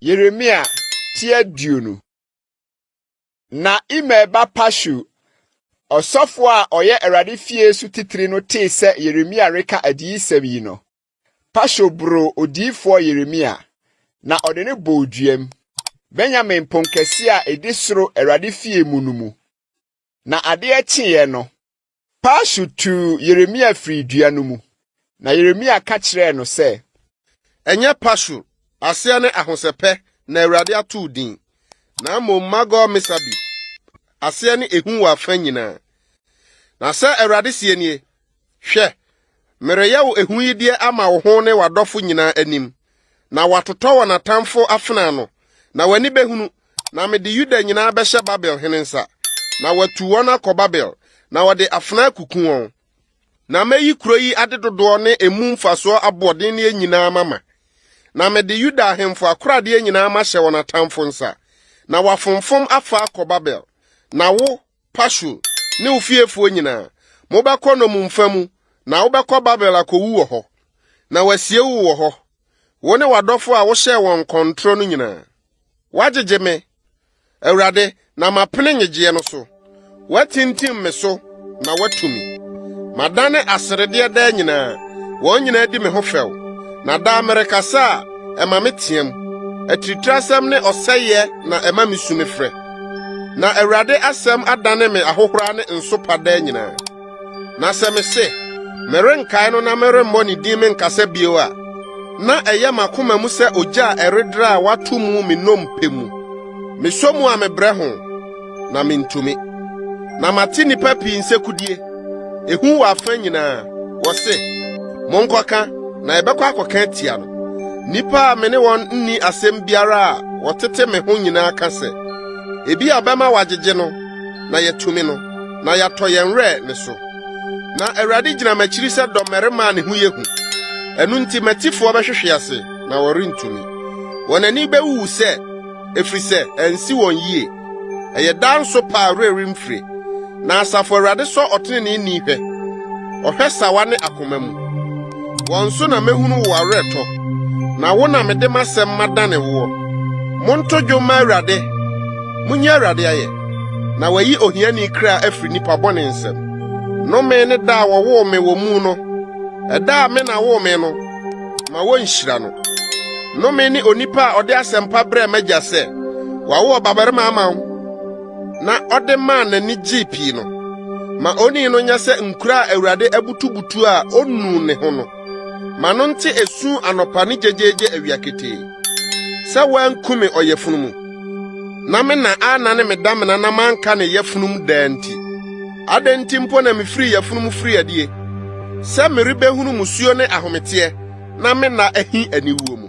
Yeremia ti aduonu na Imer ba Pashu ɔsɔfo a ɔyɛ Awurade fie so titiri no tee sɛ Yeremia reka adiyisɛm yi no, Pashu boroo odiyifoɔ Yeremia, na ɔde no bɔɔ duam, Benyamin pon kɛseɛ a ɛdi soro Awurade fie mu no mu. Na adeɛ kyeeɛ no, Pashur tuu Yeremia firii dua no mu, na Yeremia ka kyerɛɛ no sɛ. Ɛnyɛ Pashur, aseɛ ne Ahosɛpɛ, na Awurade ato wo din, na mmom Magor-Misabib, aseɛ ne Ehu wɔ afa nyinaa. Na sɛ Awurade seɛ nie, Hwɛ, Mereyɛ wo ahuyideɛ ama wo ho ne w'adɔfo nyinaa anim, na wɔatotɔ wɔn atamfo afena ano, na w'ani bɛhunu, na mede Yuda nyinaa bɛhyɛ Babel hene nsa, na watu wɔn akɔ Babel, na wɔde afena akuku wɔn. Na mɛyi kuro yi ade dodoɔ ne emu mfasoɔ aboɔdenneɛ nyinaa mama, na mede Yuda ahemfo akoradeɛ nyinaa mahyɛ wɔn atamfo nsa, na wɔafomfom afa akɔ Babel, na wo, Pashur ne wo fiefoɔ nyinaa, mobɛkɔ nnommumfa mu, na wobɛkɔ Babel akɔwu wɔ hɔ, na wɔasie wo wɔ hɔ, wo ne w'adɔfoɔ a wohyɛɛ wɔn nkɔntorɔ no nyinaa. Woagyegye me, Awurade, na mapene nnyegyeɛ no so. Woatintim me so na woatu me. Madane aseredeɛ daa nyinaa, wɔn nyinaa di me ho fɛw, na daa merekasa a, ɛma meteam. Atiritirasɛm ne ɔsɛeɛ na ɛma mesu mefrɛ. Na Awurade asɛm adane me ahohora ne nsopa daa nyinaa. Na sɛ mese, merenkae no na meremmɔ ne din menkasa bio a, na ɛyɛ m'akoma mu sɛ ogya a ɛredra a wato mu me nnompe mu. Mesɔ mu a mebrɛ ho, na mintumi. Na mate nnipa pii nsekudie. Ehu wɔ afã nyinaa. Wɔse, Monkɔka, na yɛbɛkɔ akɔka atia no. Nnipa a me ne wɔn nni asɛm biara a wɔtete me ho nyinaa ka sɛ, Ebi a ɔbɛma wagyegye no na yɛatumi no, na yɛatɔ yɛn werɛ ne so. Na Awurade gyina m'akyiri sɛ dɔmmarima a ne ho yɛ hu. Ɛno nti m'atifoɔ bɛhwehwe ase na wɔrentumi. Wɔn ani bɛwuwu sɛ, ɛfiri sɛ ansi wɔn yie. Ɛyɛ daa nso pa a werɛ remfire. Na Asafo Awurade sɔ ɔteneneeni hwɛ, ɔhwɛ sawa ne akoma mu. Wɔn so na mehunu wo awerɛtɔ, na wo na mede m'asɛm madane woɔ. Monto dwom ma Awurade, munyi Awurade ayɛ, na wayi ohiani kra afiri nnipa bɔne nsam. Nnome ne da a wɔwoo me wɔ mu no, ɛda a me na woo me no. Ma wonhyira no. Nnome ne onipa a ɔde asɛmpa brɛɛ m'agya sɛ wawo ɔbabarima ama wo na ɔde maa n'ani gyee pii no. Ma onii no nyɛ sɛ nkura a Awurade abutubutu a onu ne ho no. Ma no nte esu anɔpa ne gyegyeegye awia ketee sɛ woankume ɔyafunu mu na me na anna ne me damena na manka ne yafunum daa nti. Adɛn nti mpo na mifirii yafunu mu firii adie, sɛ merebɛhunu mmusuo ne ahometeɛ, na me nna ahi aniwuo mu?